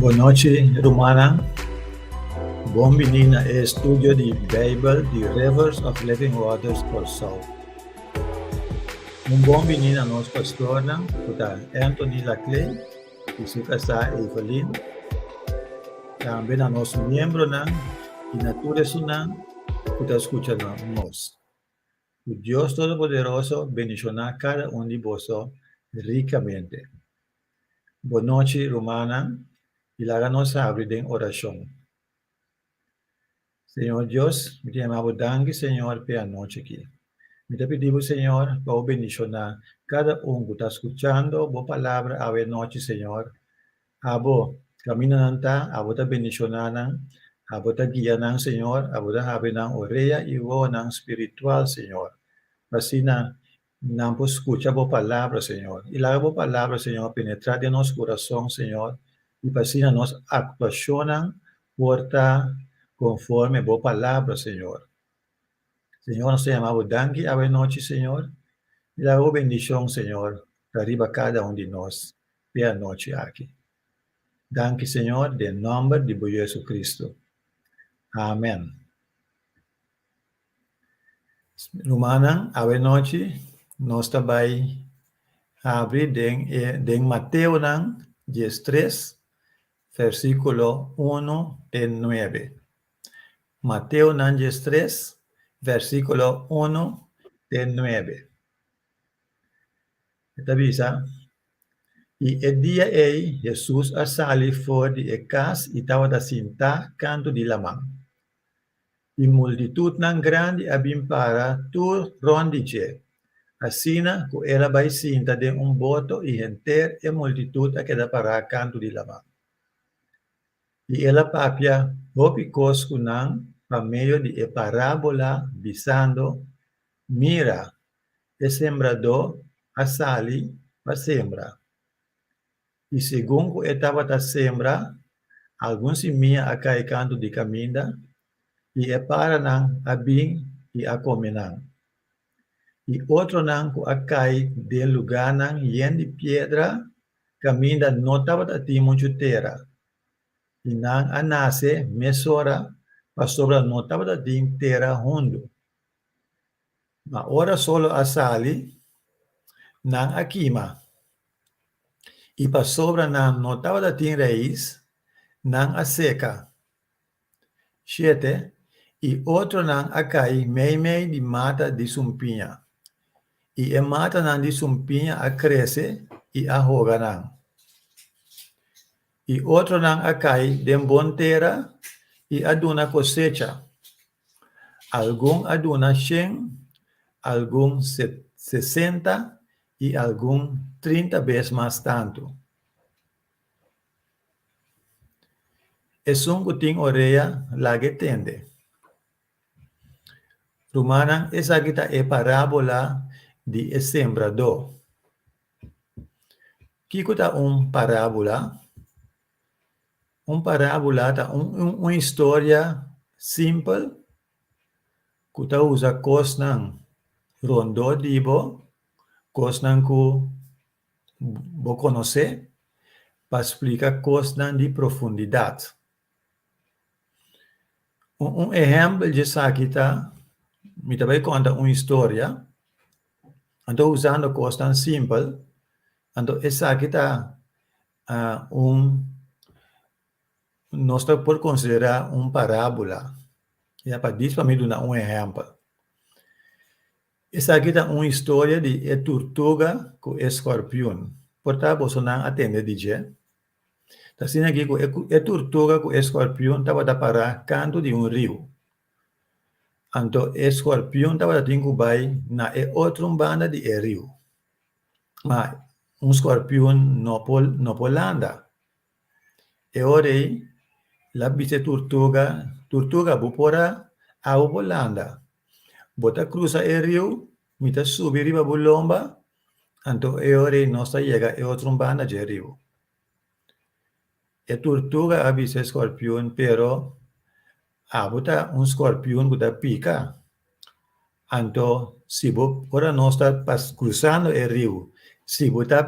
Bon nochi, rumannan. Bon bini na e estudio di Beibel di Rivers of Living Waters Kòrsou. Un bon bini na nos pastornan ku ta Anthony Laclay i su kasá Evelyn, tambe na nos miembronan i na tur esunnan ku ta skucha nos. Cu Dios Todopoderoso bendiciona cada un di boso ricamente. Bon nochi, rumannan, y laga nos habri den oracion. Señor Dios, mi ta yama Bo danki, Señor, p'e anochi aki. Mi ta pidi Bo, Señor, pa Bo bendiciona cada un cu ta scuchando Bo Palabra awe nochi, Señor. Abo, camina nan ta, abo ta bendiciona nan, abo ta guia nan, Señor, abo ta habri nan orea y wowonan spiritual, Señor, p'asina nan por scucha bo palabra, Señor, y laga bo palabra, Señor, penetra den nos curason, Señor, y p'asina nos actuacionnan por ta conforme bo palabra, Señor. Señor, nos ta yama bo danki awe nochi, Señor, y laga bo bendicion, Señor, ta riba cada un di nos, P'e anochi aki. Danki Señor den nomber di Bo JesuCristo. Amen. Rumannan, awe nochi nos ta bai habri den e den Mateonan dies tres versiculo uno te nuebe. Mateonan dies tres versiculo uno te nuebe. E ta bisa, I e dia ei Hesus a sali for di e kas i tabata sintá kantu di laman. I multitutnan grandi a bin para tur rònt di dje, asina ku el a bai sinta den un boto i henter e multitut a keda pará kantu di laman. I el a papia hopi kos ku nan pa medio di e parábola, bisando, Mira! E sembradó a sali pa sembra, i segun ku e tabata sembra, algun simia a kai kantu di kaminda, i e paranan a bin i a kome nan. I otronan ku a kai den lugánan yen di piedra kaminda no tabata tin muchu tera, i nan a nase mesora pasobra no tabata tin tera hundu. Ma ora sol a sali, nan a kima, i pasobra nan no tabata tin rais, nan a seka. Shete, i otronan a kai meimei di mata di sumpiña, i e matanan di sumpiña a krese i a hoga nan. I otronan a kai den bon tera i a duna kosecha. Algun a duna shen, algun sesenta i algun trinta bes mas tantu. Esun ku tin orea, laga e tende. Rumannan, esaki ta e parábola di e sembradó. Kiko ta un parábola? Un parábula ta un, un, un historia simpel ku ta usa kosnan rondó di bo, kosnan ku bo konosé, pa splika kosnan di profundidat. Un, un ehèmpel di esaki ta, mi ta bai konta un historia, anto usando kosnan simpel, anto esaki ta a un, nos ta por considerá un parábula, ya pa dis pa mi duna un ehempel. Esaki ta un historia di e turtuga cu e scorpion. Por ta bosonan a tende di dje? Ta asina aki cu e, e turtuga cu e scorpion tabata pará cantu di un riu. Anto e scorpion tabata tin cu bai na e otro banda di e riu. Ma un skorpion no por no por landa. E ora ei la bichi e turtuga, Turtuga, bo por a abo por landa. Bo ta krusa e riu, mi ta subi riba bo lomba, anto e ora ei nos ta yega e otro banda dje riu. E turtuga a bisa e skorpion, Pero abo ta un skorpion ku ta pika. Anto si bo, ora nos ta pas krusando e riu, si bo ta,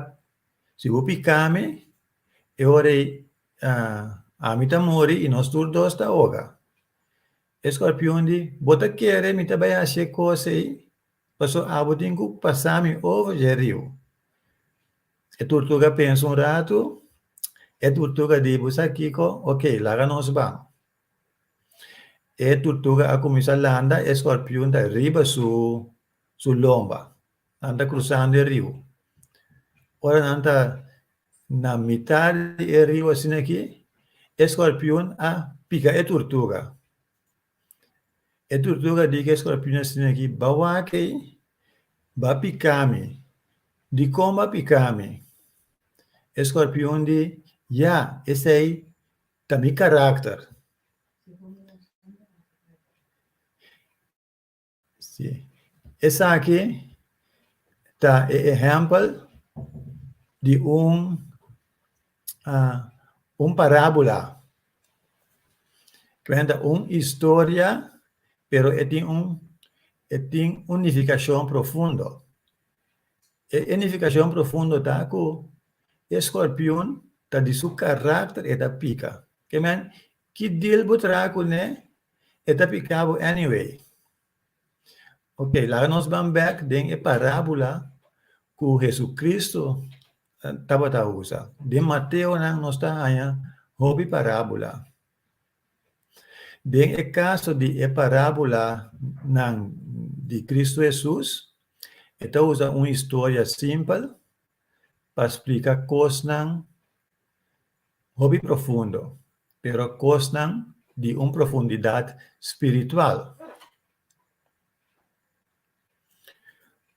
si bo pika mi, e ora ei ami ta muri i nos tur dos ta oga. E skorpion di, Bo ta kere mi ta bai hasi e kos ei? Pasobra abo tin ku pasa mi over dje riu. E turtuga pensa un ratu, e turtuga di, bu sa kiko, ok, laga nos ba. E turtuga a kuminsá landa, e skorpion ta riba su su lomba, nan ta krusando e riu. Ora nan ta na mitá di e riu asin'akí, e skorpion a pika e turtuga, E turtuga di ke skorpionnan sina aki ba wak ei, ba pika mi. Dikon ba pika mi? E skorpion di, Ya, esei ta mi karakter. Sí. Esaki ta e ehempel di un uh, un parábola. Cuenta un historia, pero e tin un e tin un nificacion profundo. E, e nificacion profundo ta cu e scorpion ta di su carácter e ta pica. Amen. Ki deal bo traha cu ne? E ta pica bo anyway. Ok, laga nos ban bek den e parabula cu Jesucristo tabata usa. Den Mateonan nos ta haña hopi parabula. Den e caso di e parabulanan di Cristo Jesus, e ta usa un historia simpel pa splica cosnan Hopi profundo, pero kosnan di un profundidat spiritual.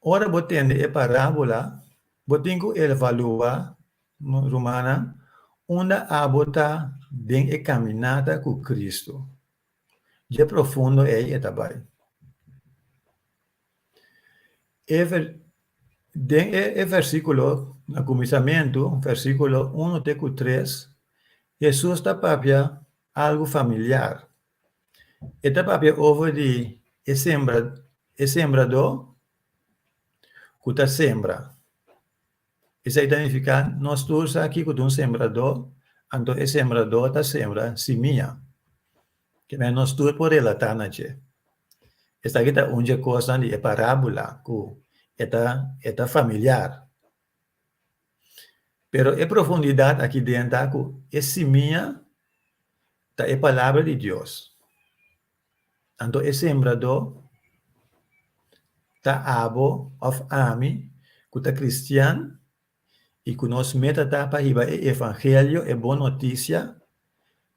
Ora bo tende e parábola, bo tin ku evaluá, rumannan, unda abo ta den e kaminata ku Kristu. Dje profundo ei e ta bai. E ver, den e e versíkulo, na kuminsamentu, versíkulo unu te ku tres, Hesus ta papia algu familiar. E ta papia over di e sembra, e sembradó ku ta sembra. Esei ta nifiká nos tur sa kiko ta un sembradó, anto e sembradó ta sembra simia. Kimen nos tur por relatá na dje? Esaki ta un dje kosnan di e parábula ku e ta e ta familiar. Pero e profundidat aki den ta ku e simia ta e palabra di Dios. Anto e sembradó ta abo òf ami ku ta kristian? i ku nos meta ta pa hiba e evangelio, e bon notisia,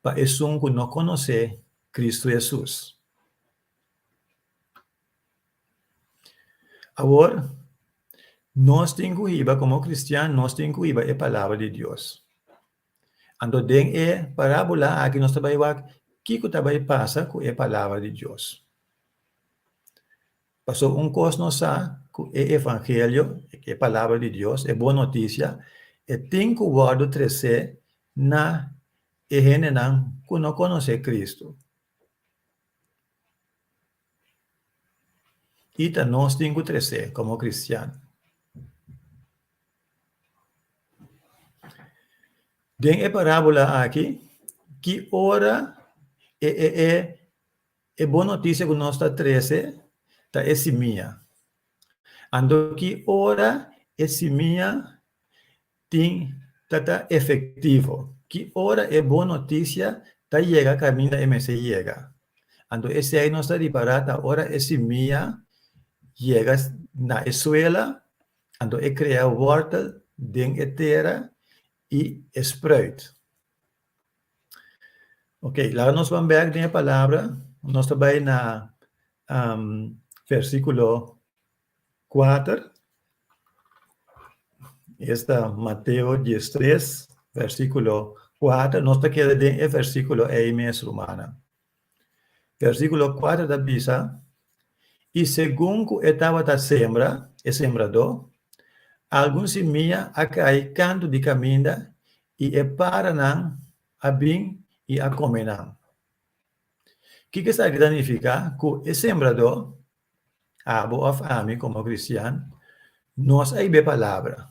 pa esun ku no konosé Kristu Hesus. Awor, nos tin ku hiba, komo kristian, nos tin ku hiba e palabra di Dios. Anto den e parábola aki nos ta bai wak kiko ta bai pasa ku e palabra di Dios. Pasobra un kos nos sa, ku e evangelio, e palabra di Dios, e bon notisia, e tin ku wòrdu tresé na e hendenan ku no konosé Kristu. I ta nos tin ku tresé komo kristiannan. Den e parábola aki, ki ora e e e. E bon notisia ku nos ta trese ta e simia. Anto ki ora e simia tin ta ta efektivo? Ki ora e bon notisia ta yega kaminda e mester yega? Anto esei nos ta ripará ta ora e simia yega na e suela, anto e krea wòrtel den e tera i e spruit. Ok, laga nos ban bek den e palabra. Nos ta bai na versikulo kuater. Esta Mateo diestres, versikulo kuater. Nos ta keda den e versikulo ei mes, rumannan. Versíkulo kuater ta bisa, I segun ku e tabata sembra, e sembradó, algun simia a kai kantu di kaminda i e páranan a bin i a kome nan. Kiko esaki ta nifiká ku e sembradó, abo òf ami komo kristian, nos a hib'é palabra?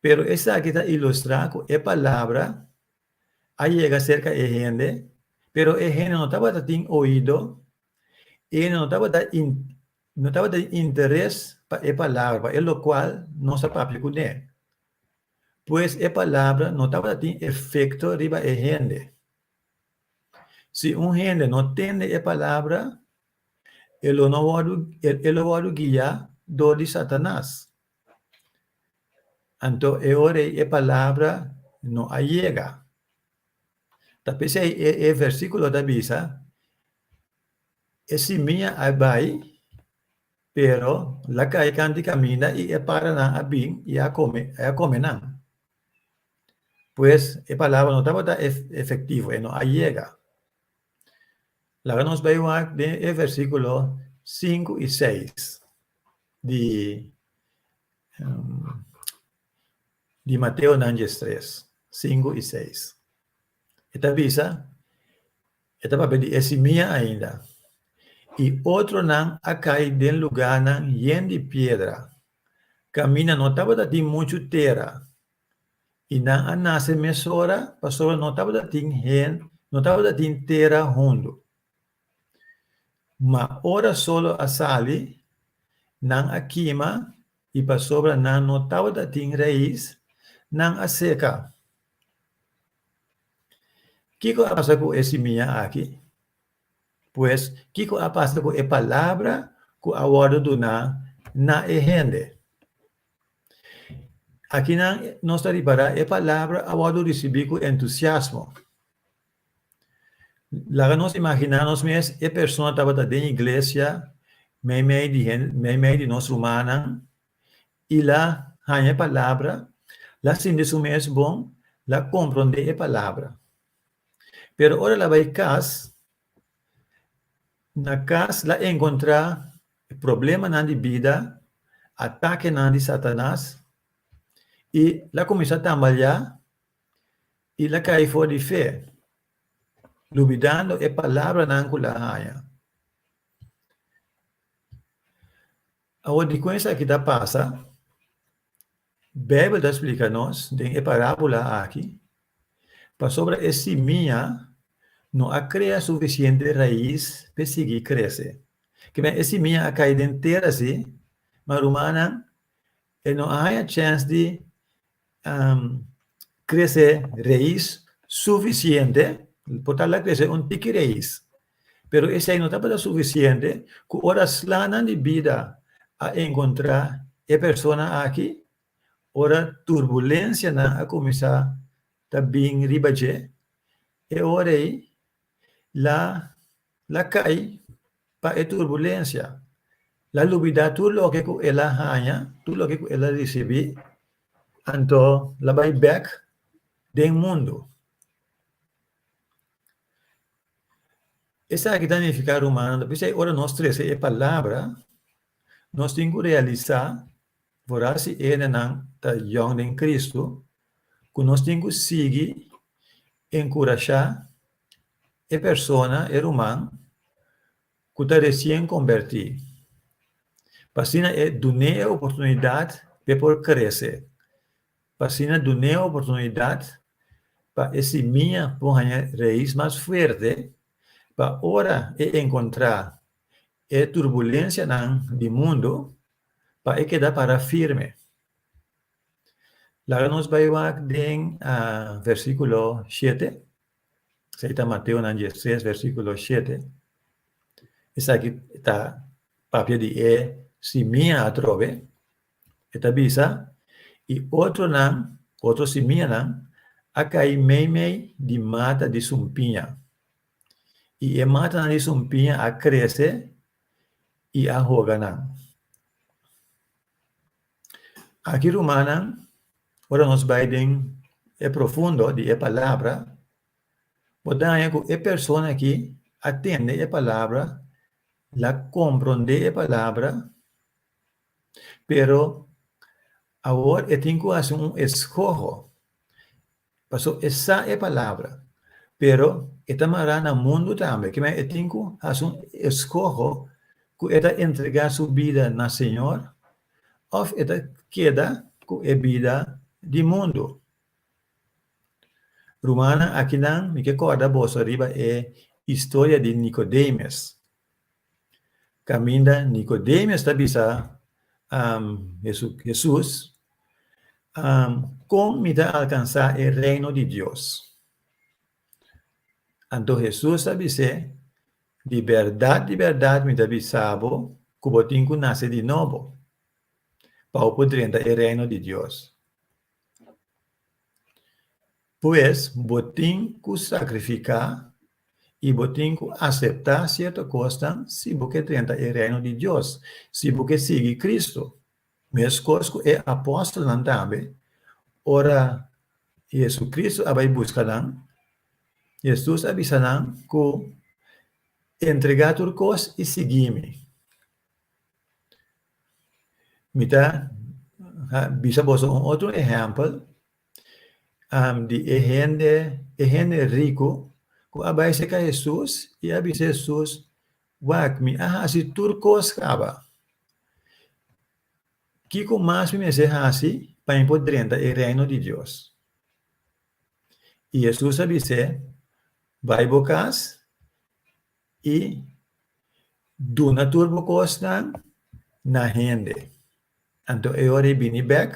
Pero esaki ta ilustrá ku e palabra a yega serka e hende, pero e hende no tabata tin oido, e hende no tabata no tabata den interes pa e palabra, pa e locual nos a papia cu ne. Pues e palabra no tabata tin efecto riba e hende. Si un hende no tende e palabra, e lo no wordo e lo wordo guia dor di Satanas. Anto e ora ei e palabra no a yega. Ta p'esei e e versíkulo ta bisa, E simia a bai, pero lo a kai kantu i kaminda i e paranan a bin i a kome i a kome nan. Pues, e palabra no tabata ef-efektivo, e no a yega. Laga nos bai wak den e versíkulo sinku i seis di di Mateo nan djes tres, sinku i seis. E ta bisa, e ta papia di e simia ainda, I otronan a kai den lugánan yen di piedra, kaminda no tabata tin muchu tera, I nan a nase mesora pasobra no tabata tin hen, no tabata tin tera hundu. Ma ora solo a sali, nan a kima, i pasobra nan no tabata tin rais, nan a seka. Kiko a pasa ku e simia aki? Pues, kiko a pasa ku e palabra ku a wòrdu duná na e hende? Akinan nos ta ripará e palabra a wòrdu risibí ku entusiasmo. Laga nos imaginá nos mes e persona tabata den iglesia meimei di meimei di nos rumannan i la haña e palabra, la sinti su mes bon, la komprondé e palabra. Pero ora el a bai kas, Na cas la encontra e problemanan di bida, atakenan di Satanas, i la cuminsa tambaleá i la cai for di fe, lubidando e palabranan cu la haña. Awor, dicua esaki ta pasa? Beibel ta splika nos den e parábola akí pasobra e simia no a krea sufisiente rais pa e sigui krese. Ke mester e simia a kai den tera sí, ma rumannan e no a haña chèns di krese rais sufisiente, por tabla krese un tiki rais. Pero esei no tabata sufisiente ku ora slanan di bida a enkontrá e persona aki, ora turbulensianan a kuminsá ta bin riba dje, e ora ei la la kai pa e turbulensia, la lubidá tur loke ku el a haña, tur loke ku el a risibí, anto la bai bèk den mundu. Esaki ta nifiká rumannan, ta bisai ora nos trese e palabra, nos tin ku realisá for hasi enenan ta yòn den Kristu ku nos tin ku sigui enkurashá e persona, e ruman ku ta resien kombertí, pa asina e dun'é e oportunidat pa e por krese. pa asina dun'é oportunidat pa e simia por haña reis mas fuerte pa ora e enkontrá e turbulensianan di mundu pa e keda pará firme. Laga nos bai wak den versíkulo shete, esaki ta Mateonan diestres, versíkulo shete. Esaki ta papia di e simia atrobe E ta bisa, I otronan, otro simianan, a kai meimei di mata di sumpiña, i e matanan di sumpiña a krese i a hoga nan. Aki, rumannan, ora nos bai den e profundo di e Palabra, por daña ku e persona ki a tende e Palabra, la kompronde e Palabra, Pero awor e tin ku hasi un eskoho, paso e sa e palabra, pero e ta mará na mundu tambe. Kiman e tin ku hasi un eskoho ku e ta entregá su bida na Señor òf e ta keda ku e bida di mundu? Rumannan, akinan mi ke kòrda boso riba e historia di Nikodemes. Caminda Nicodemius ta bisa um, Hesu, Jesus, um, con mi ta alcansa e reino di Dios? Anto Jesus ta bise, di berdad, di berdad mi ta bisabo, cu bo tin cu nace di nobo, pa bo por drenta e reino di Dios. Pues, bo tin ku sakrifiká i bo tin ku aseptá sierto kosnan si bo ke drenta e Reino di Dios, si bo ke sigui Kristu. Meskos ku e apòstelnan tambe, ora JesuCristu a bai buska nan, Jesus a bisa nan ku, Entregá tur kos i sigui mi. Mi ta bisa boso un otro ehèmpel. di e hende, e hende riku ku a bai seka Hesus i a bisa Hesus, Wak, mi a hasi tur kos kaba. Kiko mas mi mester hasi pa mi por drenta e Reino di Dios? I Hesus a bis'é, Bai bo kas i duna tur bo kosnan na hende. Anto e ora i bini bèk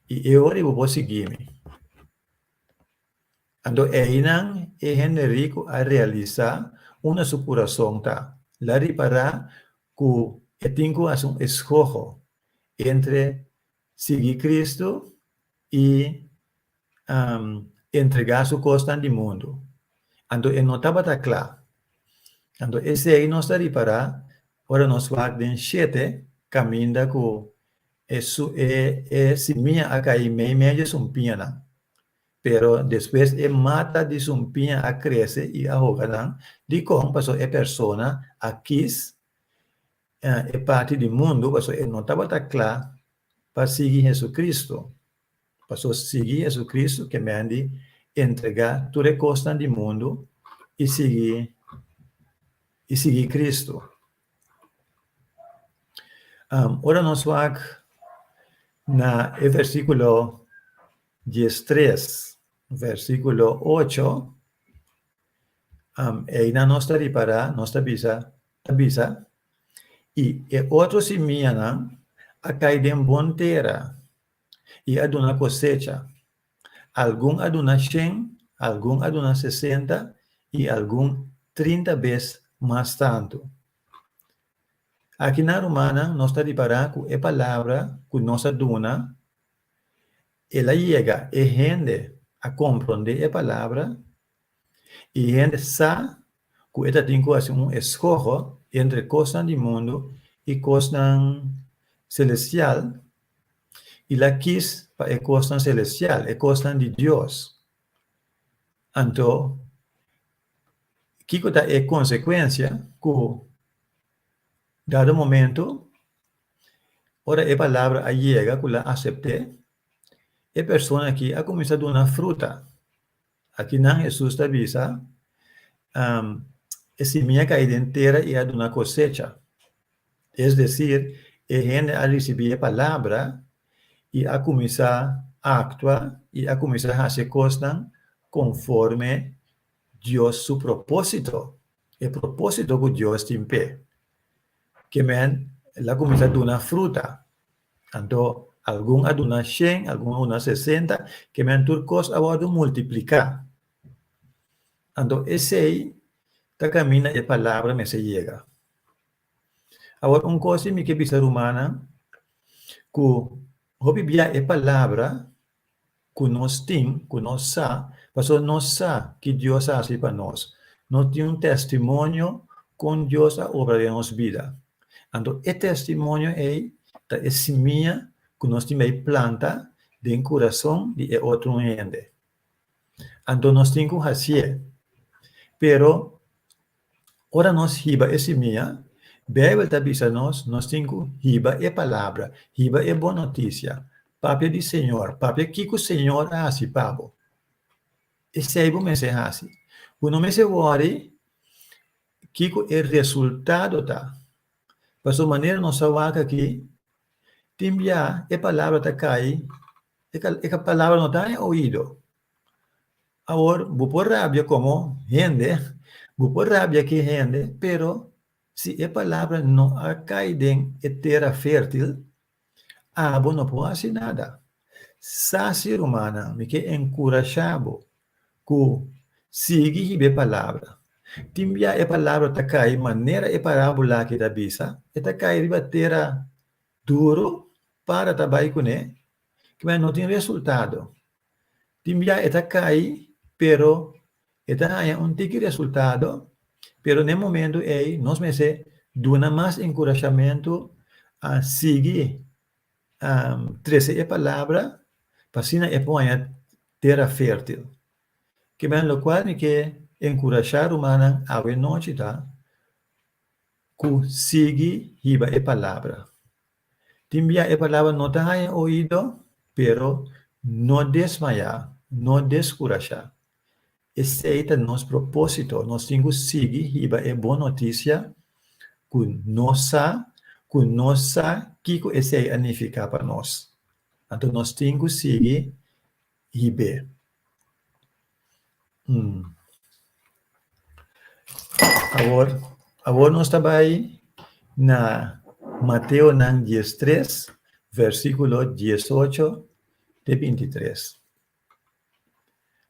i e ora i bo por sigui mi. Anto einan e hende riku a realisá unda su kurason ta, el a ripará ku e tin ku hasi un eskoho entre sigui Kristu i entregá su kosnan di mundu. Anto e no tabata kla. Anto esei nos ta ripará ora nos wak den shete kaminda ku E su e e simia a kai meimei di su mpiña nan, pero despues e mata di su mpiña a krese i a hoga nan. Dikon? Pasobra e persona a kis e parti di mundu pasobra e no tabata kla pa sigui Hesukristu. Pasobra sigui JesuCristu ke men di entregá tur e kosnan di mundu i sigui i sigui Cristu. Am, ora nos wak na e versíkulo dies tres, versíkulo ocho, am, eina nos ta ripará, nos ta bisa, ta bisa, i e otro simianan a kai den bon tera. I a duna kosecha. Algun a duna shen, algun a duna sesenta i algun trinta bes mas tantu. Aki na rumannan nos ta ripará ku e palabra ku nos a duna, el a yega e hende a komprondé e palabra I hende sa ku e ta tin ku hasi un eskoho entre kosnan di mundu i kosnan selestial, i la kis pa e kosnan selestial, e kosnan di Dios. Anto, kiko ta e konsekuensia? Ku dado momentu, ora e palabra a yega ku el a asept'é, e persona aki a kuminsá duna fruta. Aki nan Hesus ta bisa, E simia a kai den tera i a duna kosecha. Es desir, e hende a risibí e palabra i a kuminsá aktua i a kuminsá hasi kosnan konforme Dios su propósito, e propósito ku Dios tin p'e. Ke men el a kuminsá duna fruta. Anto, algun a duna shen, algun a duna sesenta, keme nan tur kos a wòrdu multipliká. Anto, esei ta kaminda e palabra mester yega. Awor, un kos mi ke bisa rumannan, ku hopi bia e palabra ku nos tin, ku nos sa, pasobra nos sa ki Dios a hasi pa nos. Nos tin un tèstimonio kon Dios a obra den nos bida. Anto e tèstimonio ei ta e simia ku nos tin bai planta den kurason di e otro hende. Anto nos tin ku hasié, pero Ora nos hiba e simia, Beibel ta bisa nos, nos tin ku hiba e palabra, hiba e bon notisia, papia di Señor, papia kiko Señor a hasi pa bo. Esei bo mester hasi. Bo no mester wòri kiko e resultado ta, pasobra manera nos a wak aki, tin bia e palabra ta kai, e palabra no ta den e oido, Awor, bo por rabia como hende, bo por rabia cu e hende, pero si e palabra no a cay den e tera fértil, abo no por haci nada. Sasi, rumannan, mi ke encurashá bo cu sigui hib'é e palabra. Tin bia e palabra ta cay manera e parábula aki ta bisa, e ta cay riba tera duro, para ta bay cuné, kib'é no tin resultado. Tin bia e ta kai, pero e ta haña un tiki resultado, pero n'e momentu ei nos mester duna mas enkurashamentu, a sigui a trese e palabra pa asina e por haña tera fertil. Kiman lokual mi ke enkurashá rumannan awe nochi ta ku sigui hiba e palabra. Tin bia e palabra no ta haña oido, pero no desmayá, no deskurashá. Esei ta nos propósito, nos tin ku sigui hiba e bon notisia ku nos sa ku nos sa kiko esei a nifiká pa nos. Anto nos tin ku sigui Hibé. Umm. Awor, awor nos ta bai na Mateonan dies tres, versíkulo dies ocho te binti tres.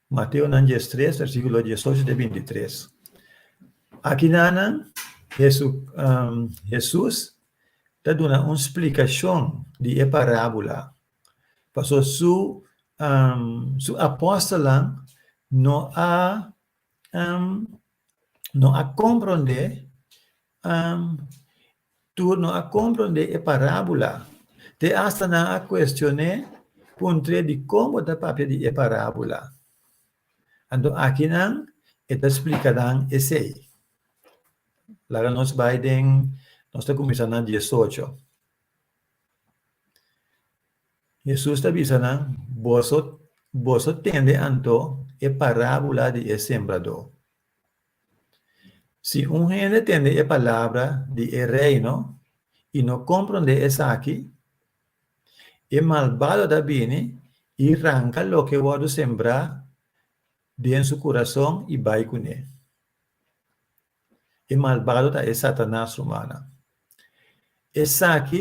Mateonan dies tres, versíkulo dies ocho te binti tres. Akinana, Hesu, Jesus ta duna un splikashon di e parábula Paso su su apòstelnan no a no a komprondé tur no a komprondé e parábula, te asta nan a kuestion'é puntr'é di kon bo ta papia di e parábula. Anto akinan e ta splika nan esei. Laga nos bai den, nos ta kuminsá na diesocho. Hesus ta bisa nan, Boso boso tende anto e parábula di e sembradó? Si un hende tende e palabra di e Reino i no komprondé esaki, e malbado ta bini i ranka loke wòrdu sembrá den su kurason i bai kuné. E malbado ta e Satanas rumannan. Esaki.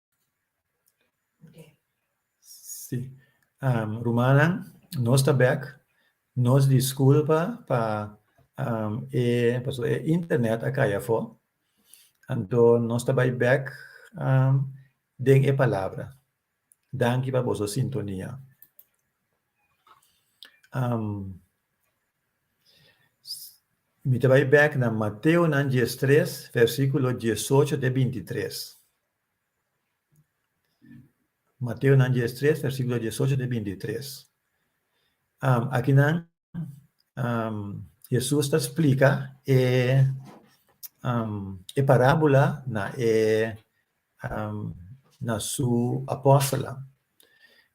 Sí. Um, rumannan, nos ta bek. Nos disculpa pa um, e, paso e internet a kaya fo. Anto nos ta bai bek um, den e palabra. Danki pa boso sintonia. Um, mi te bai bek na Mateo nan 13, versículo 18 te 23. Mateonan dies tres versikulo dies ocho te binti tres. Akinan Hesus ta splika e e parábula na e na su apòstelnan.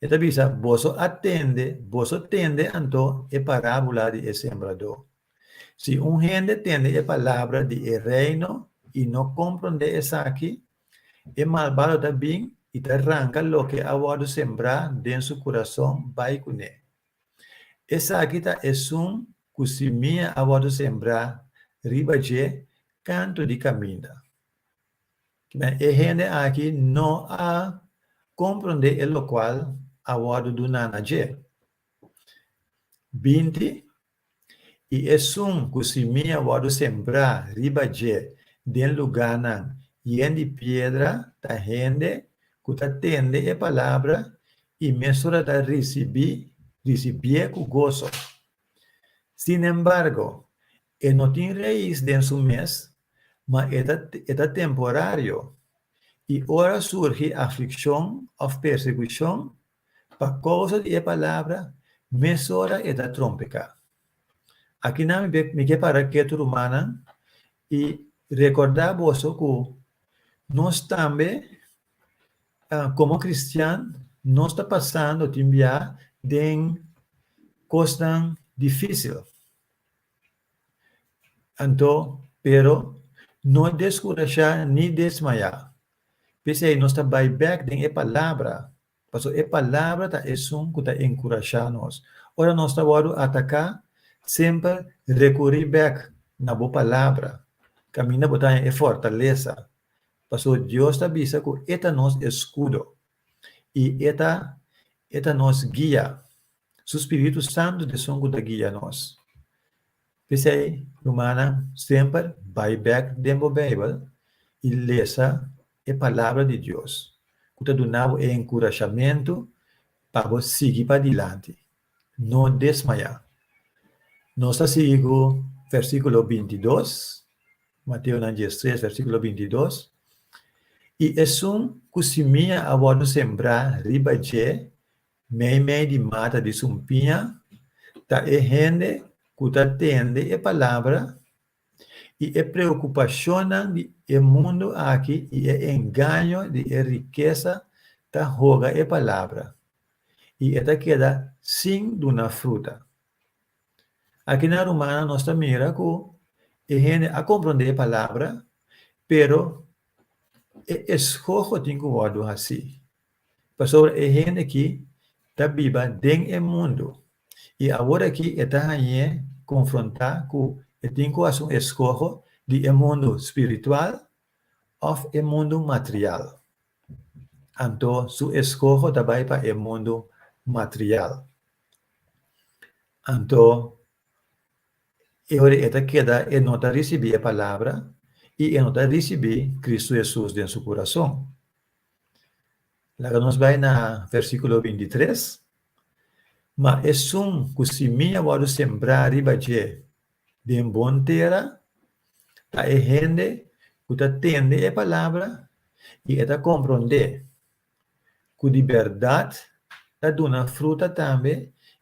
E ta bisa, Boso a tende, boso tende anto e parábula di e sembradó. Si un hende tende e palabra di e Reino i no komprondé esaki, e malbado ta bin i ta ranka loke a wòrdu sembrá den su kurason bai ku ne. Esaki ta esun ku simia a wòrdu sembrá riba dje kantu di kaminda. E hende aki no a komprondé e lokual a wòrdu duná na dje. Binti i esun ku simia wòrdu sembrá riba dje den lugánan yen di piedra ta hende ku ta tende e palabra i mesora ta risibí risibié ku goso. Sinembargo, E no tin rais den su mes, ma e ta e ta temporario, i ora surgi aflikshon òf persekushon pa kousa di e palabra, mesora e ta trompeká. Aki nan mi mi ke para ketu, rumannan, i rekordá boso ku nos tambe komo kristian nos ta pasando tin biaha den kosnan difísil. Anto, pero, no deskurashá ni desmayá. P'esei nos ta bai bèk den e Palabra, pasobra e Palabra ta esun ku ta enkurashá nos. Ora nos ta wòrdu ataká, semper rekurí bèk na bo Palabra, kaminda bo ta haña e fortalesa, pasobra Dios ta bisa ku e ta nos eskudo i e ta nos guia. Su Spiritu Santu dison cu ta guia nos. P'esey, rumannan, semper bai bek den bo Bijbel i lesa e Palabra di Dios cu ta duna bo e encurashamentu pa bo sigui padilanti. No desmaya. Nos ta sigui cu versiculo binti dos, Mateonan diestres, versiculo binti dos, I esun cu simia a wordo sembrá riba dje Meimei di mata di sumpiña ta e hende ku ta tende e palabra i e preokupashonnan di e mundu aki i e engaño di e rikesa ta hoga e palabra i e ta keda sin duna fruta. Aki na Rumana nos ta mira ku e hende a komprondé e palabra, pero e eshoho tin ku wòrdu hasí. Pasobra e hende ki ta biba den e mundu i awor aki e ta hañ'é konfrontá ku e tin ku hasi un eskoho di e mundu spiritual òf e mundu material, anto su eskoho ta bai pa e mundu material. Anto, e ora e ta keda e no ta risibí e palabra i e no ta risibí Kristu Hesus den su kurason. Laga nos bai na versíkulo binti tres, Ma esun ku simia wòrdu sembrá riba dje den bon tera, ta e hende ku ta tende e palabra i e ta komprondé, ku di bèrdat ta duna fruta tambe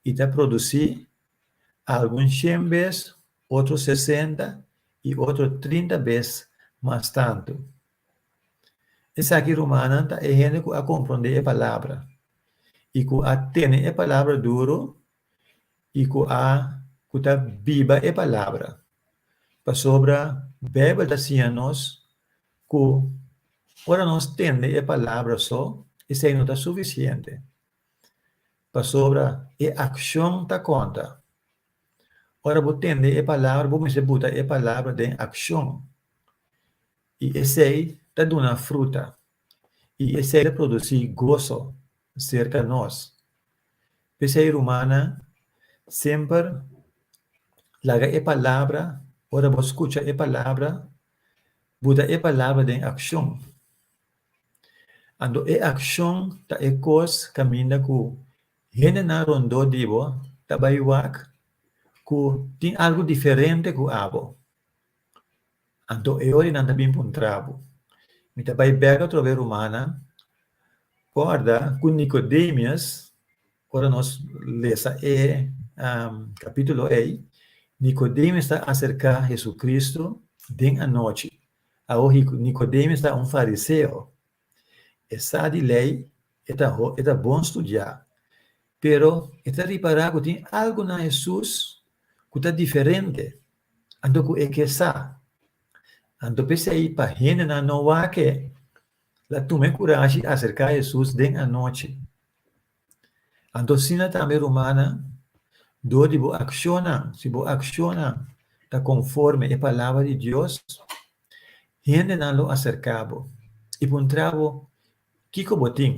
i ta produsí, algun shen bes, otro sesenta i otro trinta bes mas tantu. Esaki rumannan ta e hende ku a komprondé e palabra i ku a tene e palabra duru i ku a ku ta biba e palabra, pasobra Beibel ta siña nos ku ora nos tende e palabra so, esei no ta sufisiente, pasobra e akshon ta konta. Ora bo tende e palabra, bo mester buta e palabra den akshon. I esei ta duna fruta, i esei ta produsí goso serka nos. P'esei, rumannan, semper laga e palabra, ora bo skucha e palabra, bo ta e palabra den akshon. Anto e akshon ta e kos kaminda ku hendenan rondó di bo ta bai wak ku tin algu diferente ku abo. Anto e ora nan ta bin puntra bo. Mi ta bai bèk atrobe rumannan, kòrda ku Nikodemius, ora nos lesa e kapitulo ei, Nikodemius ta aserká Hesukristu den anochi. Awor Nikodemius ta un fariseo. E sa di lei, e ta e ta bon studiá, pero e ta ripará ku tin algu na Hesus ku ta diferente, anto ku e ke sa. Anto p'esei pa hendenan no wak e, la tuma e kurashi aserká Hesus den anochi. Anto asina tambe rumannan, dor di bo akshonnan, si bo akshonnan ta konforme e palabra di Dios, hendenan lo aserká bo i puntrá bo kiko bo tin.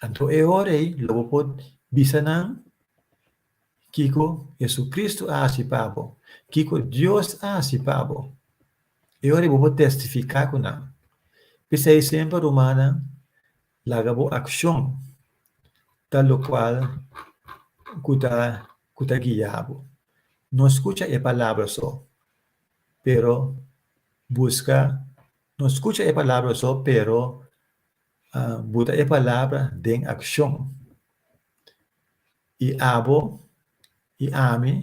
Anto e ora ei lo bo por bisa nan kiko JesuCristu a hasi pa bo, kiko Dios a hasi pa bo. E ora ei bo por tèstifiká ku nan. P'esei semper rumannan Laga bo akshon ta lokual ku ta ku ta guia bo. No skucha e palabra so, pero buska no skucha e palabra so, pero buta e palabra den akshon. I abo i ami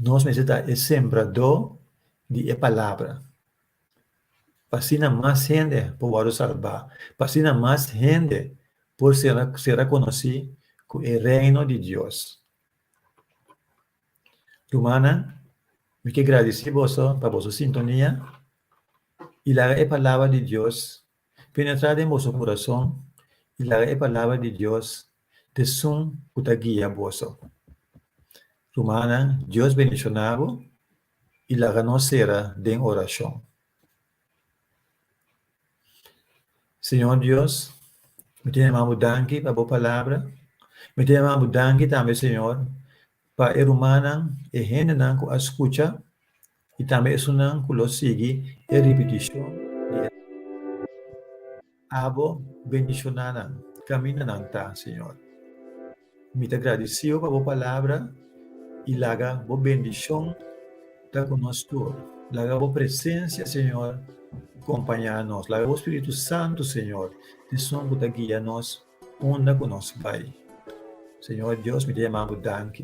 nos mester ta e sembradó di e palabra. pa asina mas hende por wòrdu sarbá, pa asina mas hende por ser ser a konosí ku e Reino di Dios. Rumannan, mi ke gradisí boso pa boso sintonia i laga e Palabra di Dios Penetrá den boso kurason i laga e palabra di Dios esun ku ta guia boso. Rumannan, Dios bendishoná bo i laga nos sera den orashon. Señor Dios, mi ta yama bo danki pa bo palabra. Mi ta yama bo danki tambe, Señor, pa e rumannan, e hendenan ku a skucha. i tambe esunnan ku lo sigui e ripitishon di e palabra. Abo bendishoná nan kaminda nan ta, Señor. Mi ta gradisiu pa bo palabra i laga bo bendishon ta ku nos tur. Laga bo presensia, Señor, kompañá nos. Laga bo Spiritu Santu, Señor, esun ku ta guia nos unda ku nos bai. Señor Dios, mi ta yamá bo danki.